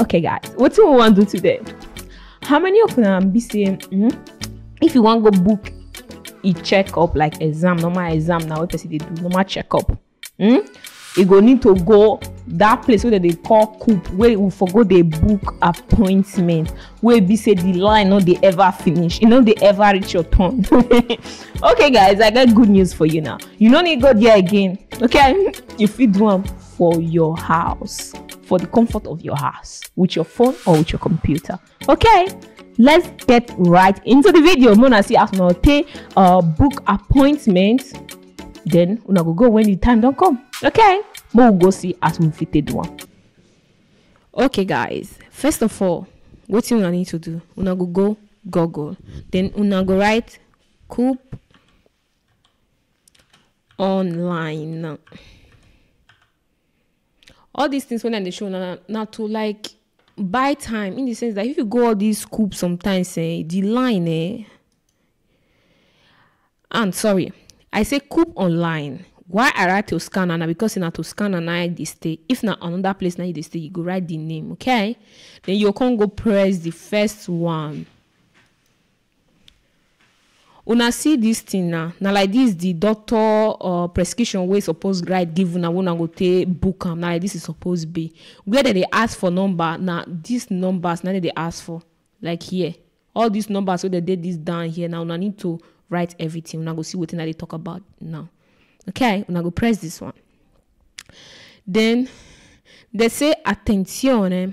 okay guys what do we want to do today how many of them be saying mm, if you want to go book a checkup like exam normal exam now what person they do normal checkup mm, you go need to go that place wey dem dey call coop wey we for go dey book appointment wey be say the line no dey ever finish e no dey ever reach your turn okay guys i get good news for you now you no need go there again okay you fit do am for your house, for the comfort of your house, with your phone or with your computer. Okay, let's get right into the video. Mona see as una take uh, book appointment, then una go go when the time don't come. Okay, we'll go see as we fit take do one. Okay, guys, first of all, what you need to do? Una go go Google, then una go write coop online all these things when i dey show una na na to like buy time in the sense that if you go all these school sometimes eh the line eh and sorry i say coop online why i write to scanner na because say na to scanner na i dey stay if na another place na you dey stay you go write the name okay then you go come go press the first one Una see dis tin na, na like dis di doctor or prescription wey suppose write give una wey una go take book am, na like dis e suppose be. Where dem dey ask for number, na dis numbers na im dem dey ask for, like here. All dis numbers wey dem dey dis down here na, una need to write everytin, una go see wetin I dey tok about now. Okay, una go press dis one. Den, dem say, Attenzione!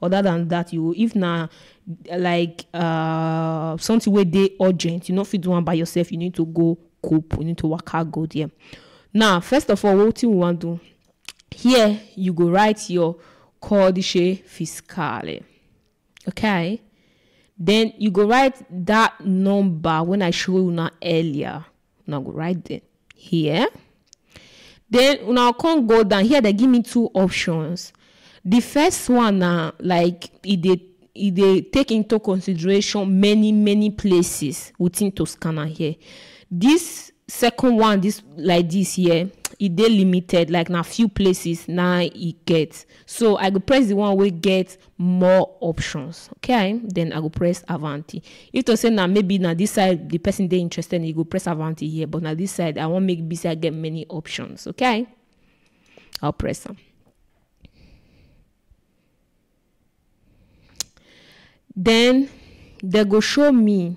other than that you if na like uh, something wey dey urgent you no fit do am by yourself you need to go cope you need to waka go there now first of all wetin we wan do here you go write your codice fiscale okay then you go write that number when i show una earlier una go write dem here then una come go down here they give me two options the first one na like e dey e dey take into consideration many many places within toscana here this second one this like this here e dey limited like na few places na e get so i go press the one wey get more options okay then i go press avanti if to say now maybe now this side the person they interested in you go press avanti here but now this side i won't make busy i get many options okay i'll press them then they go show me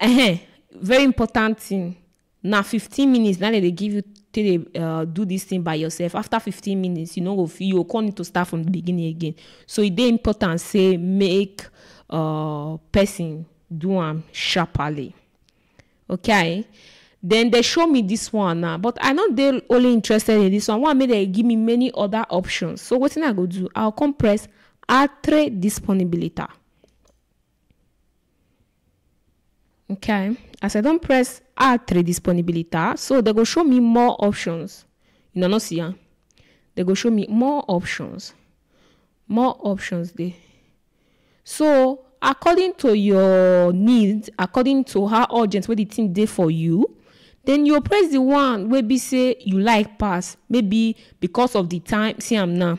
um very important thing na fifteen minutes na dem dey give you take dey uh, do this thing by yourself after fifteen minutes you no go fit you go come need to start from the beginning again so e dey important say make uh, person do am sharply okay then they show me this one now but i no dey only interested in this one one make dem give me many other options so wetin i go do i go come press altre disponibilità Okay, as I don press R3 disponibilità, so they go show me more options. You know, no see am. They go show me more options. More options dey. So according to your need, according to how urgent wey the thing dey for you, then you go press the one wey be say you like pass. Maybe because of the time, see am now.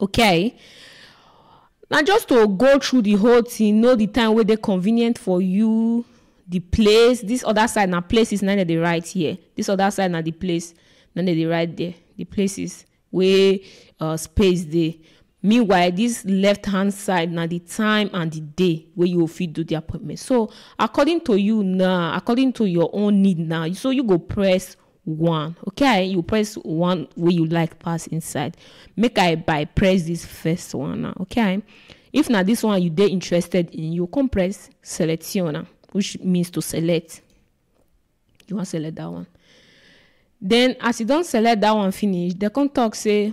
okay na just to go through the whole thing know the time wey dey convenient for you the place this other side na places na dem dey write here this other side na the place na dem dey write there the places wey uh, space dey meanwhile this left hand side na the time and the day wey you go fit do the appointment so according to you now according to your own need now so you go press one okay you press one way you like pass inside make i by press this first one now okay if now this one you dey interested in you come press selection which means to select you want select that one then as you don't select that one finish they come talk say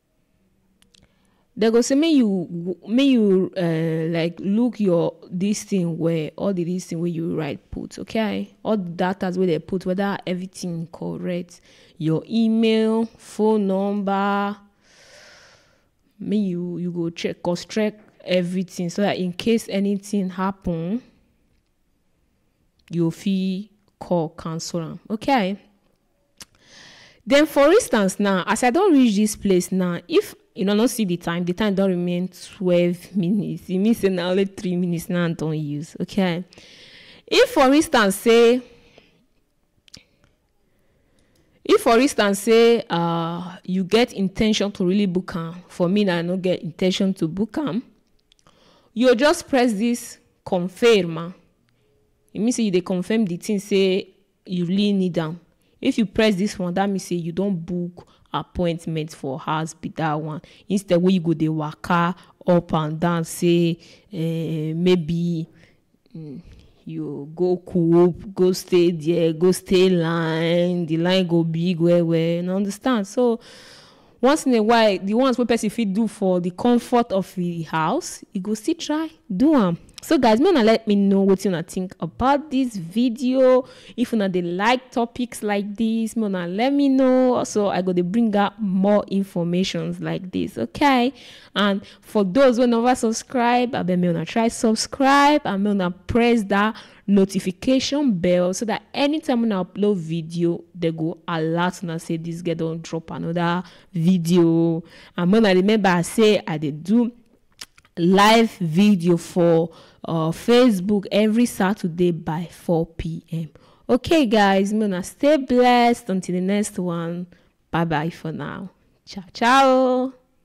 dem go say make you make you um like look your this thing well all the this thing wey you write put okay all the datas wey dem put whether everything correct your email phone number make you you go check cause check everything so that in case anything happen you fit call cancel am okay den for instance now as i don reach dis place now if you no no see di time di time don remain twelve minutes e mean say na only three minutes now i don use okay if for instance say if for instance say uh, you get intention to really book am for me na i no get intention to book am you go just press this confirm ah e mean say you dey confirm the thing say you really need am if you press this one that mean say you don book appointment for house be that one instead wey you go dey waka up and down say eh, maybe mm, you go coop go stay there go stay line the line go big well well you understand so Once in a while, di ones wey pesin fit do for di comfort of e house, e go still try do am. So guys, make una let me know wetin una think about dis video. If una dey like topics like dis, make una let me know. Also, I go dey bring out more informations like dis, okay? And for those wey never subscribe, abeg make una try subscribe and make una press dat notification bell so that anytime una upload video they go alert una say this girl don drop another video and when i remember say i dey do live video for uh, facebook every saturday by 4 p.m okay guys i'm gonna stay blessed until the next one bye bye for now ciao ciao